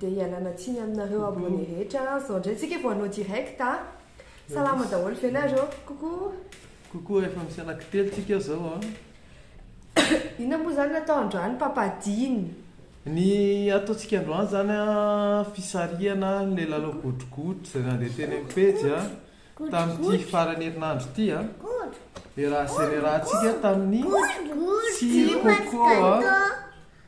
Dia ialana tsiny aminareo abonné rehetra an! Zao ndray tsika vao hanao direct a! Salama daholo ve nareo? Coucou! Coucou efa misy anaky telo tsika zao an! Inona moa zany natao androany papa Dina? Ny ataontsika androany zany an, fisarihana ilay lalao godrogodro izay nandeha teny amin'ny pejy an, tamin'ity faran'ny herinandro ity an, dia raha generantsika tamin'ny tsy coco an,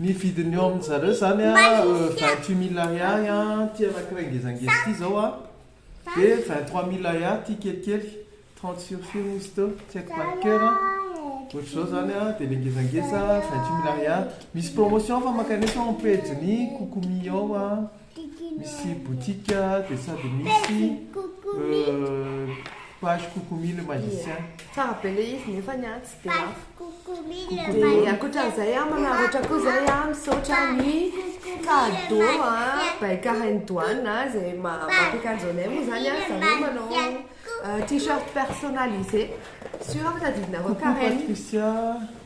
Ny vidiny eo amin zareo zany a vingt huit mille ariary a ty anakiray ngezangeza ty zao a de vingt trois mille ariary ty kelikely trente sur fio moa izy teo tsy haiko par coeur a ohatr'izao zany a de le ngezangeza vingt huit mille ariary misy promotion fa mankany etsy ao am pejin'i kokomi ao a. Misy boutique dia sady misy page Coucoumi le magicien. Tsara be ilay izy nefa ny ahy tsy dia lafo. Dia ankoatran'izay an, manararaotra koa izay an, misaotra ny cadeau an, baika hain'i Doane an, izay mampiaka an'izao anay moa izany an, izaho moa manao t-shirt personnalisé, sûr fa tadidinareo karaine.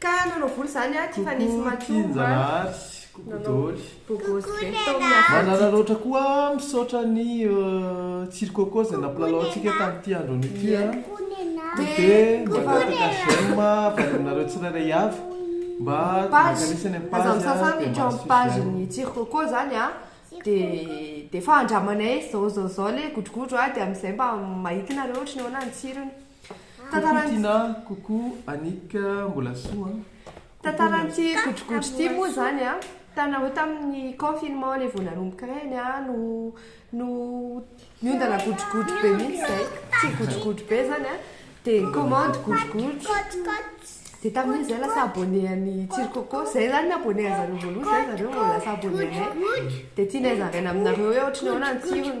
Ka nanao voly zany aho ty fa nisy matsomba nanao bogosy be tao amin'ny afo aty. Manana loatra koa a, misaotra an'i Tsiry Coco izay nampilalao antsika tamin'ity andro anio ity a, dia mangataka j'aime avy any aminareo tsirairay avy mba hankalesa any amin'ny page dia mahazo page ny Tsiry Coco zany a, dia efa andramanay zao zao zao le godrogodro a, dia amin'izay mba mahita nareo ohatry ny ahoana ny tsirony. Kokoa Tina a! Kokoa Annick a! Mbola soa an! Tantaran'ity godrogodro ity moa izany an, hitanareo tamin'ny confinement ilay vao nanomboka ireny an, no no niondana godrogodro be mihitsy izay, tia godrogodro be izany an, dia ni-commande godrogodro, dia tamin'iny izahay lasa abonné an'i Tsiry Coco, izay izany ny abonné an'i zareo voalohany, izay zareo vao lasa abonné anay, dia tianay zaraina aminareo hoe ohatran'ny ahoana ny tsirony.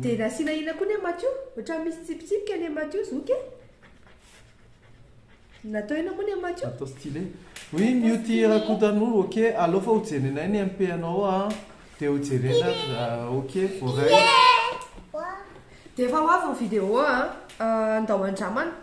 Dia nasiana ina koa ne Matio? Ohatran'ny misy tsipitsipika ne Matio zoky e! Natao ina koa ne Matio? Natao stylé. Oui Mioti Rakotanoro, ok alefa hojerenay ny MP anao a, dia hojerena ok voaray. Dia efa ho avy ny vidéo a, andao andramana.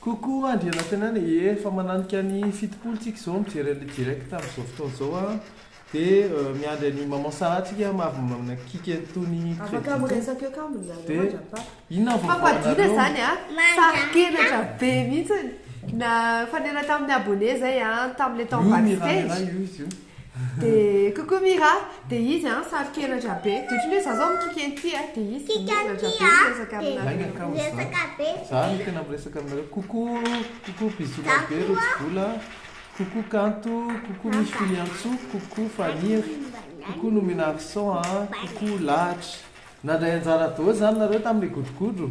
Coucou Andrianantenany e, efa mananika ny fitopolo tsika zao mijery anle direct amzao fotoana zao a, de miandry an'i maman Sarah tsika ma avy manakiky an'itony credit itony, de inona ny vaovao anareo? Dia coucou Mira, dia izy an, saro-kenatra be, dia ohatran'ny hoe za zao mikiky an'ity an, dia izy dia miongatra be miresaka aminareo. Miresaka be. Za no tena miresaka aminareo, coucou, coucou bisous-na be Rotsibola, coucou Kanto, coucou Misy Filiantsoa, coucou Faniry, coucou Nomena Accent an, coucou Lahatra. Nandray anjara daholo zany nareo tamin'ilay godrogodro?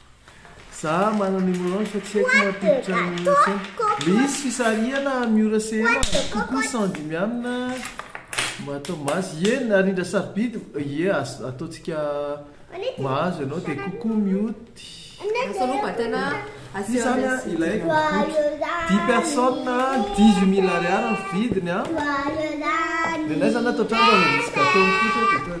Za manana hemorroides fa tsy haiko mampiditra ny sehena. Misy fisarihana Miora sehena kokoa cent dimy amina mahatao mahazo Ie narindra sarobidy Ie azo ataontsika mahazo ianao dia kokoa mioty Asa aloha vatana asio Izany a ilaiko boky dix personnes a dix huit mille ariary ny vidiny a Dia naizany ato an-trano raha vao misy gâteau mipoitra dia tonga dia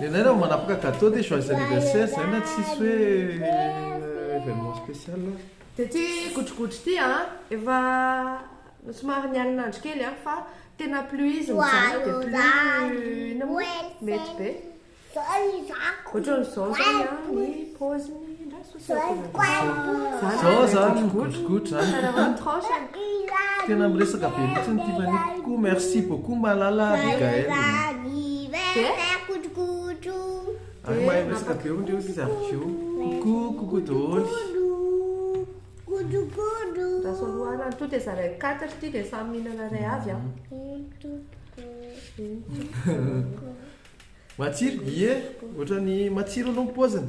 Nenay raha vao manapaka cadeau dia joyeux anniversaire izay na tsisy hoe événement spécial ary. Dia ity godrogodro ity an, efa somary ny alin'andro kely an, fa tena plus izy mijanona dia plus inona moa mety be. Ohatran'izao izao ny paoziny. Zao zany ny godrogodro zany Tena miresaka be mihitsy ny Tiffany kokoa Merci beaucoup Malala ary Gaëlle Ary mahay miresaka be hono reo izy avy ko Coucou coucou daholo Matsiro? Ie, ohatrany matsiro aloha ny paoziny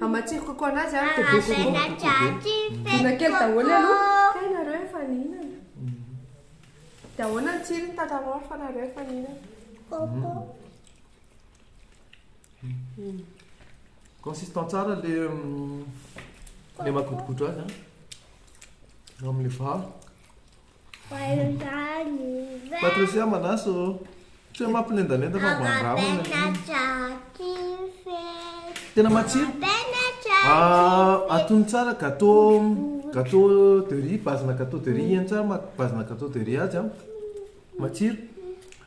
Amatsiro coco anazy a de be coco coco be. Dona kely daholo aloha. Kay nareo efa nihinana? De ahoana ny tsirony tantarao refa nareo efa nihinana? Coco. Consistant tsara le le magodogodo azy a. Amin'le vary. Patricia manasa ô. Tsy hoe mampilendalenda fa mba andramana. Tena matsiro. Ah, atony tsara gâteau gâteau de riz, base-na gâteau de riz eny tsara maha base-na gâteau de riz azy an. Matsiro.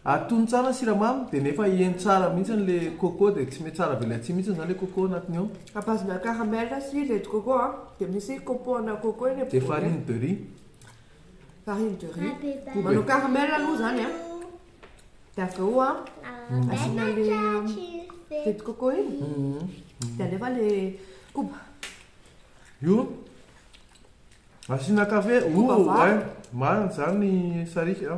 Atony tsara ny siramamy dia nefa eny tsara mihitsy ilay coco dia tsy mety tsara avy eo ilay atsimo mihitsy izany ilay coco anatiny ao. À base-na caramel sy lait de coco an. Dia misy copeaux-na coco eny am-bozaka. Dia farine de riz. Farine de riz. Manao caramel aloha zany a. Dia avy eo a, asiana le jus de coco iny. Dia alefa le koba. Io asiana kafe. Koba vary. Marina zany sariaka.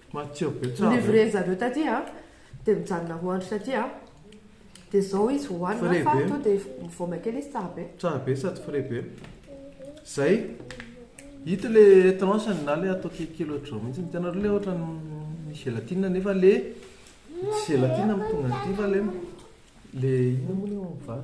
Matsiro be tsara. Livrer zareo taty a, dia mijanona roa andro taty a, dia zao izy voahanina Frais fa be. to dia mivaoma kely izy tsara be. Tsara be sady frais be. Zay. Ito le tranche-ny na le atao ki- kilo ohatr'izao mihitsy. Hitanareo le ohatran'ny ny gelatine nefa le tsy gelatine no tonga aty fa le le inona moa le ohabolana.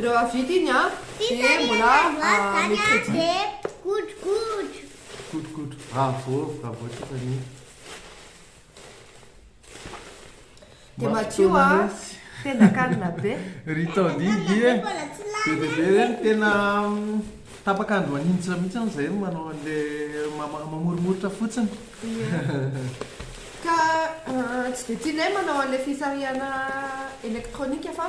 Rehefa vita iny dia mbola mercredi. Godrogodro bravo bravo Tiffany. Dia madio a! Tena calme be. Ry Tody dia be dia be reny tena tapaka andro maninjitra mihitsy hono zahay no manao an'ilay mamoromoritra fotsiny. Ka tsy dia tianay manao an'ilay fisarihana elektronika fa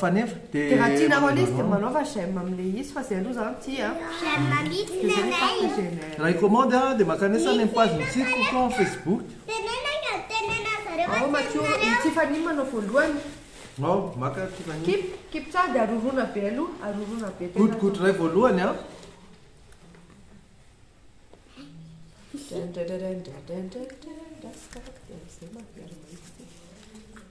Fa nefa de. De raha tianareo le izy de manaova j'aime amle izy fa zay aloha zah tia a. J'aime mitsy le ray. Raha hi-commande aho de makany etsy any am page ny site ko ko facebook. Ao Matio, i Tiffany manao voalohany. Ao, maka Tiffany. Kip, kip tsara de arorona be aloha, arorona be tena. Gotigoty ray voalohany an. Drandradradrandradrandrandra.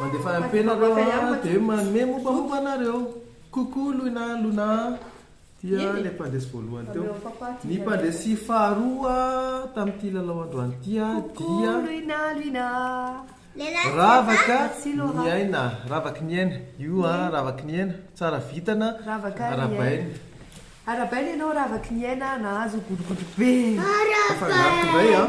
Mandefa MP nareo a de manome mombamomba anareo Coucou Loina Lona a Dia le mpandresy voalohany teo Ny mpandresy faharoa tamin'ity lalao androany ity a dia Ravaka Niaina Ravaky Niaina Io a Ravaky Niaina Tsara vitana Arabaina Arabaina ianao Ravaky Niaina a Nahazo godrogodro be Afangaro tondray a.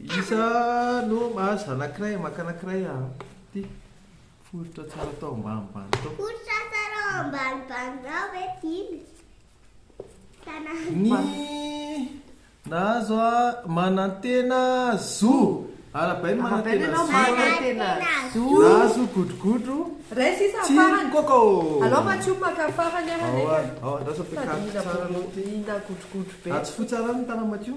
Iza no mahazo anankiray maka anankiray a ty foritra tsara tao ambanimbany tao. Foritra tsara ao ambanimbany tao ve tiany? Ny nahazo a manantena zo. Arabaina manantena zo. Manantena zo. Nahazo godrogodro tsilo coco. Alao Matio maka farany ary anay. Ao andraso am-piakariko tsara aloha ty. Atsofo tsara ny tanan'i Matio.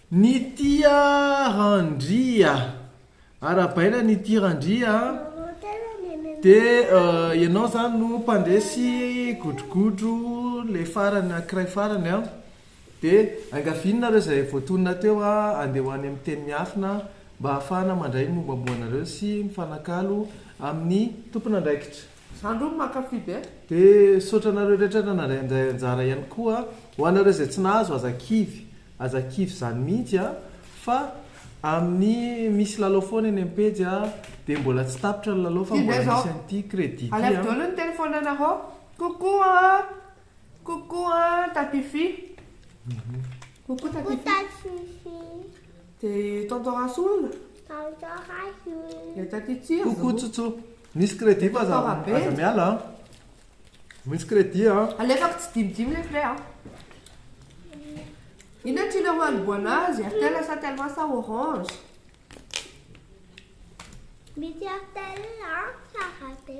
Nitia Randria a! Arabaina Nitia Randria a! De ianao zany no mpandresy godrogodro le farany ankiray farany a! De angaviany nareo zay voatonona teo a! Andeha ho any amin'ny teny miafina mba hahafahana mandray ny mombamomba anareo sy mifanakalo amin'ny tompon'andraikitra. Za ndroa no mankafy be. Be misaotra anareo rehetra nanadray andray anjara ihany koa a. Ho anareo izay tsy nahazo aza kivy, aza kivy izany mihitsy a, fa amin'ny misy lalao foana eny amin'ny pejy a, dia mbola tsy tapitra ny lalao fa Kivy mbola izao. misy an'ity credit ity Alaivo a. daholo ny telefonanareo. Coucou an! Coucou an! Tatify. Coucou Coucou Tatify. Tatify. Dia tonton Rasoa hono? Tonton Rasoa. Dia taty Tsiro. Coucou Tsotso. Misy crédit fa aza aza miala an. Misy crédit an. Alefako tsidimidimy le frais an. Inona try le haniboana azy? Airtel sa telma sa orange? Misy airtel an tsara be.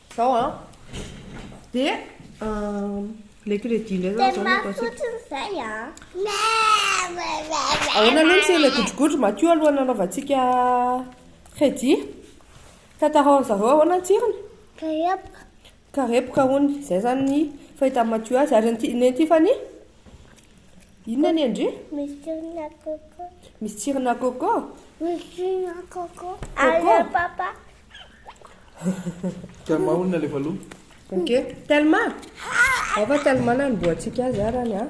Zao an. Dia le crédit indray zao zao le possible. Fotsiny zay an. Ahoana aloha tsy le godrogodro matio aloha nanaovantsika crédit. Tantarao zareo ahoana ny tsirony? Karepoka. Karepoka hono. Zay zany ny fahitan'i matio azy ary ny Tiffany? Inona ny endry? Misy tsirina coco. Misy tsirina coco? Misy tsirina coco. Coco. Papa. Telma olona le valo. Ok. Telma? Ao fa Telma na ny boatsika azy arany a.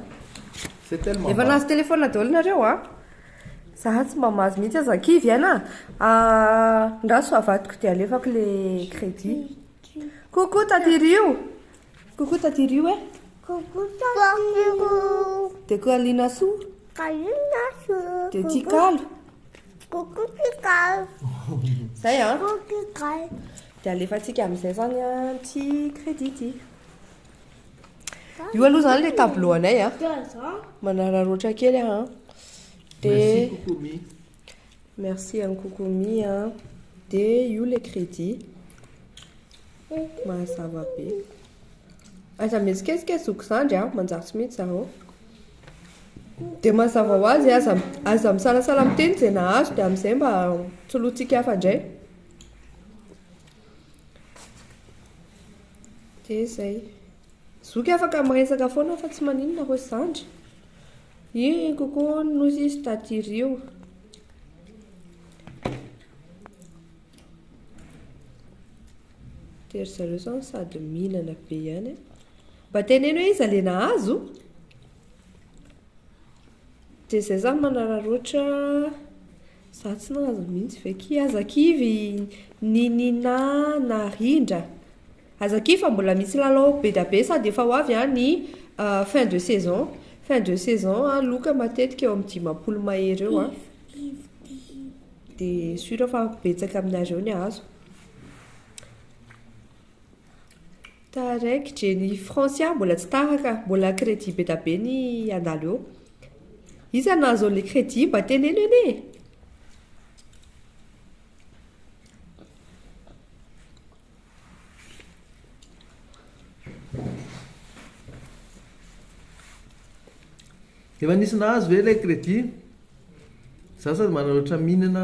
C'est tellement. Efa nahazo téléphone daholo nareo a. Za tsy mba mahazo mihitsy aza kivy aina. Andraso avadiko dia alefako le crédit. Coucou Taty Rio. Coucou Tati Rio eh. Coucou Tati Rio. De ko Alina Sou. Alina Sou. De Tikalo. Coucou Tikalo. Zay ah. Coucou Tikalo. De alefatsika amin'izay zany ah ti crédit ti. Io aloha zany le tableau anay ah. Manararaotra kely ah. De Merci Coucou Mi. Merci an'i Coucou Mi a. De io le crédit. Mazava be. Aza mihetsiketsika zoky zandry a, manjary tsy mety zareo. Dia mazava ho azy aza aza misalasala miteny izay nahazo dia amin'izay mba solointsika hafa indray. Dia izay. Zoky afaka miresaka foana fa tsy maninona reo zandry Iry koko nosy izy tadirio De ry zareo zao sady mihinana be ihany eh. Mba teneno hoe iza le nahazo De zay zany manararoatra Za tsy nahazo mintsy ve ki. Aza kivy ny Nina na Rindra. Aza kivy fa mbola misy lalao bedabe sady efa ho avy an ny fin de saison. Fin de saison an loka matetika eo amin'ny dimampolo mahery eo an. Dia sûr fa betsaka aminareo ny hahazo. Taraiky dre ny France ah mbola tsy taraka mbola crédit be da be ny handalo eo Iza no ahazo anle crédit mba teneno anie e! Efa nisy nahazo ve ilay crédit? Za sady manana ohatran'ny mihinana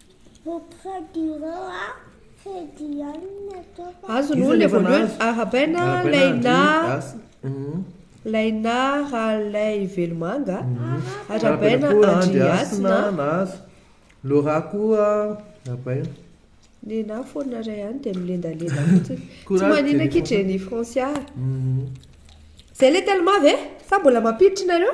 Auprès du roi Azo no ilay voalohany arabaina laina laina ralay velomanga arabaina andriasina nahazo lora koa arabaina nena foana ray ihany dia milendalenda fotsiny tsy manina ki jenny francia zay le telma ve sa mbola mampiditra nareo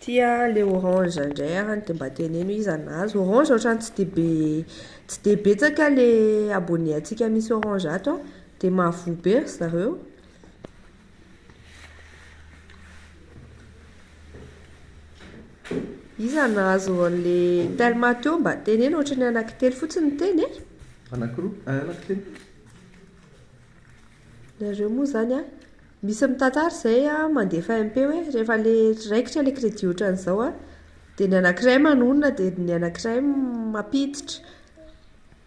Tia le orange ndray any de mba teneno iza nahazo orange otrany tsy de be tsy de betsaka le abonné antsika misy orange ato an de mahavoa be ry zareo. Iza nahazo anle telma teo mba teneno otrany anaky telo fotsiny no teny e. Anaky roa eh anaky telo. Nareo moa zany an. Misy mitantara izay a, mandefa MP hoe rehefa ilay raikitra ilay crédit ohatran'izao a, dia ny anankiray manonona dia ny anankiray mampiditra.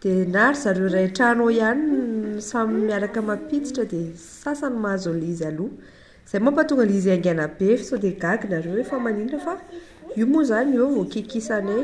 Dia na ry zareo iray trano ao ihany no samy miaraka mampiditra dia sasany mahazo an'ilay izy aloha. Izay moa mampahatonga an'ilay izy haingana be fa sao dia gaga nareo hoe fa maninona fa io moa izany eo vao kikisanay.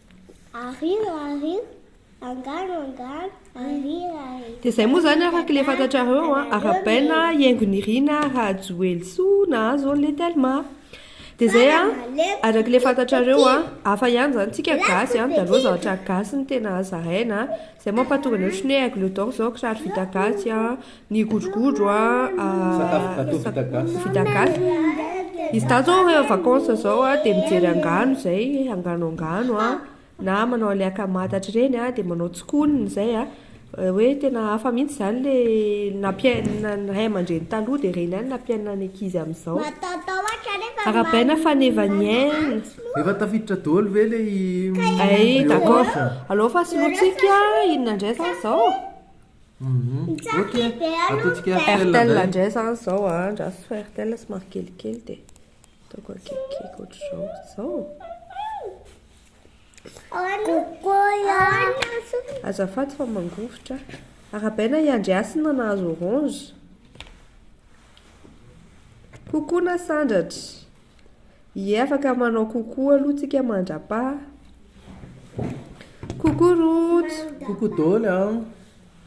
Ario ario, angano angano, ario ario. Dia izay moa izany araka ilay fantatrareo an, Arabaina, Iengo Nirina, Rajoelisoa nahazo an'ilay Telma. Dia izay an, araka ilay fantatrareo an, hafa ihany izany tsika gasy an, dia aleo zavatra gasy no tena zaraina an. Izay mampahatonga ny ohatry ny hoe aigle d'or izao kiraro vita gasy an. Ny godrogodro a Sakafo gateau vita gasy. vita gasy. Izy dahy zao rehefa vacances zao a de mijery angano zay, angano angano a, na manao an'le akamatatra ireny a, de manao tsikonina zay a. Hoe tena hafa mihitsy zany le nampiai- na- ny ray aman-dreny taloha de ireny ihany nampiaina ny ankizy amin'izao. Arahabaina faneva ny aina. Efa tafiditra daholo ve le i Ay d'accord. Aleo fa solointsika inona indray zany zao? Ok ataontsika Airtel Airtel indray. ndray zany izao a, andraso fa Airtel somary kelikely dia ataoko akaiky ohatr'izao, izao? Azafady fa mangovitra. Arabaina i Andry Hasina nahazo orange. Coucou Nasandratra. Hiefaka manao coucou aloha tsika mandrapaha. Coucou Rojo. Coucou dôly a.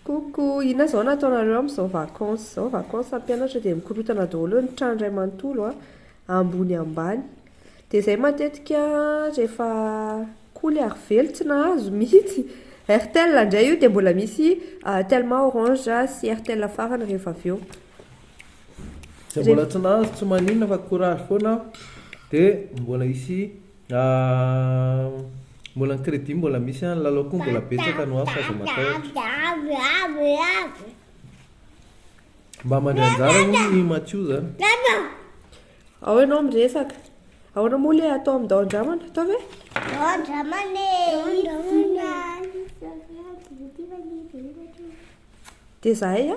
Coucou, inona izao no ataonareo amin'izao vacances izao? Vacances ny mpianatra dia mikorotana daholo eo ny trano iray manontolo a, ambony ambany. Dia izay matetika rehefa koly ary velona tsy nahazo mihitsy. Airtel indray io dia mbola misy Telma, Orange sy Airtel farany rehefa avy eo. Dia mbola tsy nahazo tsy maninona fa courage foana aho dia mbola hisy mbola ny crédit mbola misy an, ny lalao koa mbola betsaka no hafa aza matahotra. Mba mandray anjara hono ny Mathiou zany. Ao ianao miresaka. Ahoana moa ilay atao amin'ny dao-dramana? Atao ve? Dao-dramana e! Dia zahay a?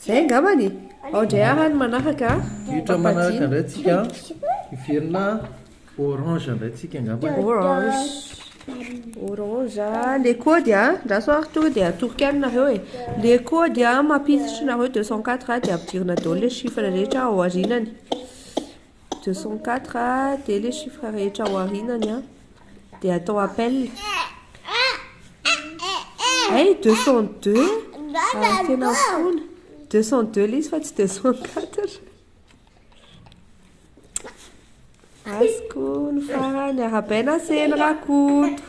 Zay angambany e. Ao indray ara ny manaraka a. Diotra manaraka indray tsika an. Hiverina orange indray tsika angambany. Orange. Orange. Le kody a. Andraso ary tonga dia atoroko ihany nareo e. Le kody a mampiditra nareo 204 a dia ampidirina daholo le chiffre rehetra ao arinany. deux cent quatre dia le chiffre rehetra ao arinany a dia atao appel hey deux cent deux ah, tena fona deux cent deux le izy fa tsy deux cent quatre azoko ny farany arabaina aseny rakoto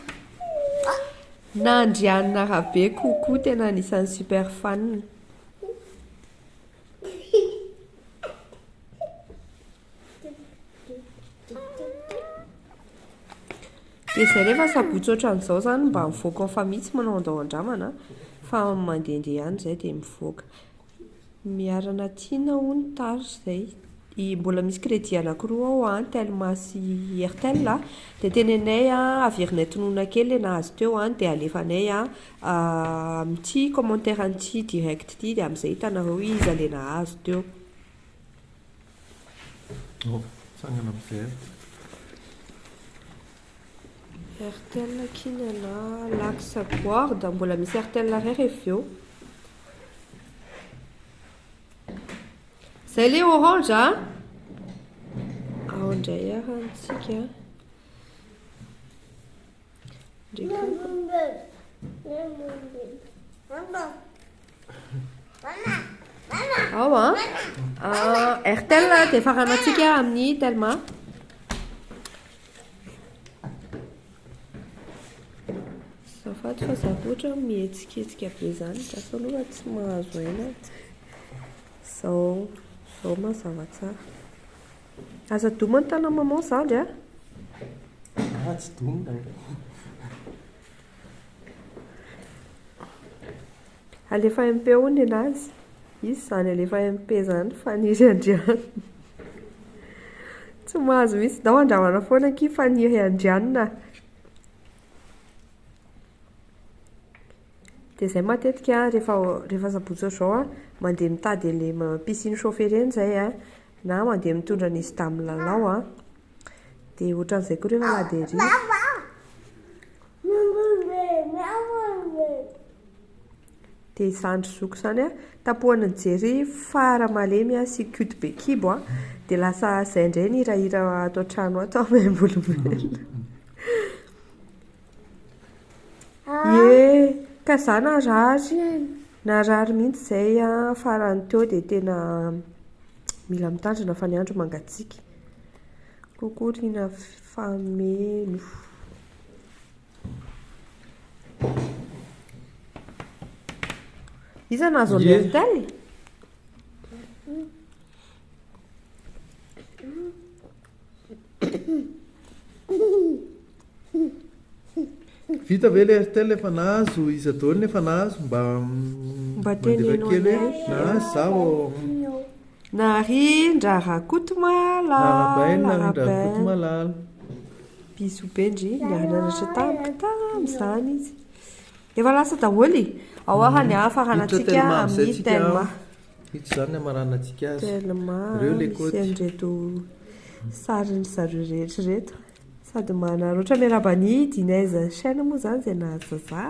na andrianina arabe kokoa tena anisan'ny super fan Dia izay rehefa sabotsy ohatran'izao izany mba mivoaka ao fa mihitsy manao andao andramana fa mandehandeha ihany izay dia mivoaka. Miharana tiana hono tarz izay. Mbola misy crédit anankiroa ao an, telma sy airtel a, dia tenenay an averina tononina kely ilay nahazo teo an dia alefanay an Amin'ity commentaire an'ity direct ity dia amin'izay hitanareo iza le nahazo teo. Oh, tsangana miverina. Airtel kina na lax guard, mbola misy airtel ray rehefa eo. Zay le orange a. Ao indray ary antsika. Ao an. Ah, Airtel dia faranantsika amin'ny Telma. Zafaty fa zavotra mihetsiketsika be izany. Gasy aloha tsy mahazo aina. Zao, zao mazava tsara. Aza doma ny tanan'i maman zandry a! Aah tsy domina e! Alefa MP hono nenazy. Izy izany alefa MP izany Faniry Andrianina. Tsy mahazo mihitsy dao andramana foana akia Faniry Andrianina a. Dia izay matetika rehefa rehefa sabotsy ohatr'izao a, mandeha mitady an'ilay piscine chauffe ireny izahay a, Na mandeha mitondra an'izy tamin'ny lalao an. Dia ohatran'izay koa rehefa lady ery. Dia izany ry zoky izany an, tapohany nijery fara malemy an sy cute be kibo an, dia lasa izay indray ny hirahira ato an-trano ato an, maimbolimboly. Ie, ka za narary e, narary mihitsy izay an, farany teo dia tena mila mitandrina fa ny andro mangatsiaka, coucou ry Nafameno. Iza no azo an'i Berthel? Vita ve le Airtel efa nahazo iza daholo ny efa nahazo mba mba teneno kely hoe nahazo za vao Narindra Rakotomalala Narabaina Narindra Rakotomalala Bisous be ndry niara-nianatra tamiko tamin'izany izy Efa lasa daholo e Ao ary ny hafa harantsika amin'ny Telma Ito izany ny hamaranantsika azy. Telma misy an'ireto sarin'ny zareo rehetra ireto. Sady manararaotra miarahaba an'i Dinez chaîne moa izany izay nahazo za.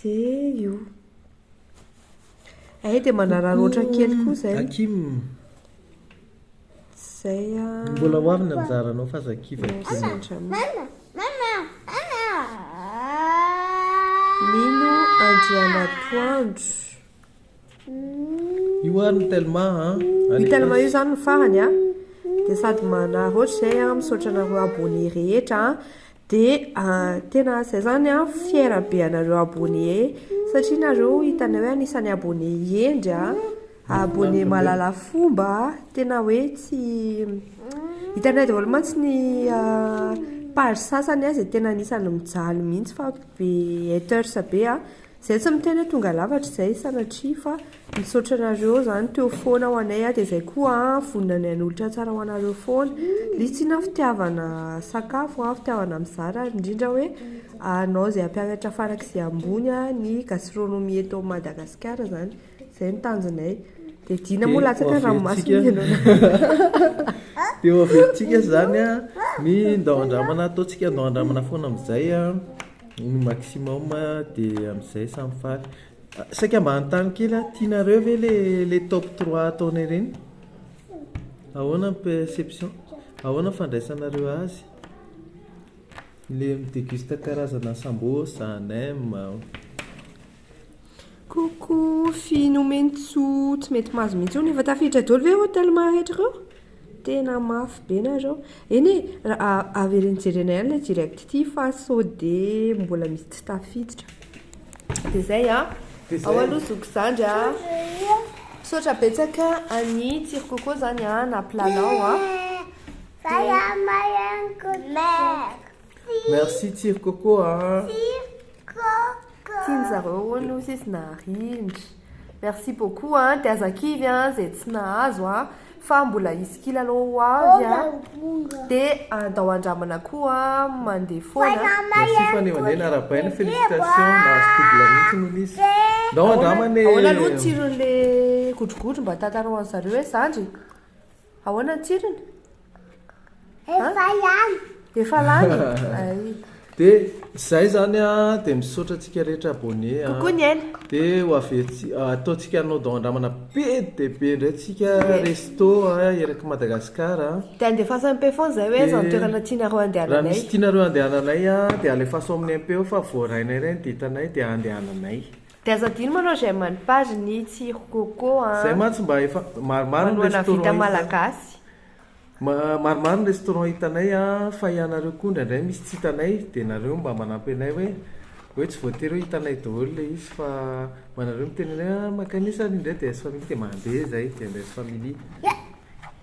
Dia io. Hay dia manararaotra kely koa izay. Hakim. Zay an. Mbola ho avy ny anjaranao fa aza kivy aty Mama Mino Andrianatoandro. Io ary ny telma a. Io telma io zany no farany a. Dia sady manary ohatr'izay a, misaotra anareo abonné rehetra a. Dia tena zay zany a, fier be anareo abonné satria nareo hitanay hoe anisan'ny abonné hendry a. A abonné mahalala fomba a! Tena hoe tsy Hitanay daholo mantsy ny page sasany a izay tena anisan'ny mijaly mihitsy fa be haters be a! Izay tsy miteny hoe tonga lafatra izay sanatria fa misaotra anareo izany teo foana ho anay a! Dia izay koa a vonona ny hanolotra tsara ho anareo foana Misy tsy inona fitiavana sakafo a, fitiavana mizara ary indrindra hoe anao izay hampianatra farak'izay ambony a ny gastronomie eto Madagasikara izany Zay ny tanjonay. Dia Dina moa latsaka ny ranomasina ianao. Dia ho averintsika izany a, ny ndao handramana, ataontsika ndao handramana foana amin'izay a, ny maximum a, dia amin'izay samy faly. Saika mba hanontany kely aho, tianareo ve le le top trois ataonay ireny? Ahoana ny perception, ahoana ny fandraisanareo azy? Le mi-deguste karazana sambosa, nem. Coucou fille nomeny tsoa tsy mety mahazo mihitsy eo nefa tafiditra daholo ve ireo telma rehetra ireo? Tena mafy be nareo. Eny e, avereno jerena ihany ilay direct ity fa sao dia mbola misy tsy tafiditra. Dia izay a. Ao aloha zoky zandry a. Misaotra betsaka an'i Tsiro Coco zany a, nampilalao a. Dia Merci Tsiro Coco a. Tiany zareo hono hoy sisy narindra. Merci beaucoup a, de aza kivy a zay tsy nahazo a, fa mbola hisy kila aloha ho avy a, de andao andramana koa mandeha foana. Merci fanehoanena arahabaina, félicitations, nahazo double mihitsy hono izy. Ndao andramana e. Ahoana aloha ny tsiron'le godrogodro mba tantarao anzareo e zandry. Ahoana ny tsirony? Efa lany. Efa lany? Ay. Dia izay zany a, dia misaotra antsika rehetra abonné a. Coucou ny aina. Dia ho avy etsy, ataontsika anao dao andramana be dia be indray tsika resto a, eraky Madagascar a. Dia andefasan'ny mpe foana izay hoe aiza ny toerana tianareo andehananay. Raha misy tianareo andehananay a, dia alefaso aminay mpe ao fa voarainay iray ny ditanay dia andehananay. De aza adino manao j'aime any page ny tsiro coco a. Zay mantsy mba efa maromaro ny restaurant hita. Manao vita malagasy. Maromaro ny restaurant hitanay a fa ianareo koa indraindray misy tsy hitanay de nareo mba manampy anay hoe hoe tsy voatery hoe hitanay daholo le izy fa mba nareo miteny anay hoe a mankany esa ary indray de aiz family de mandeha zay de aiz family.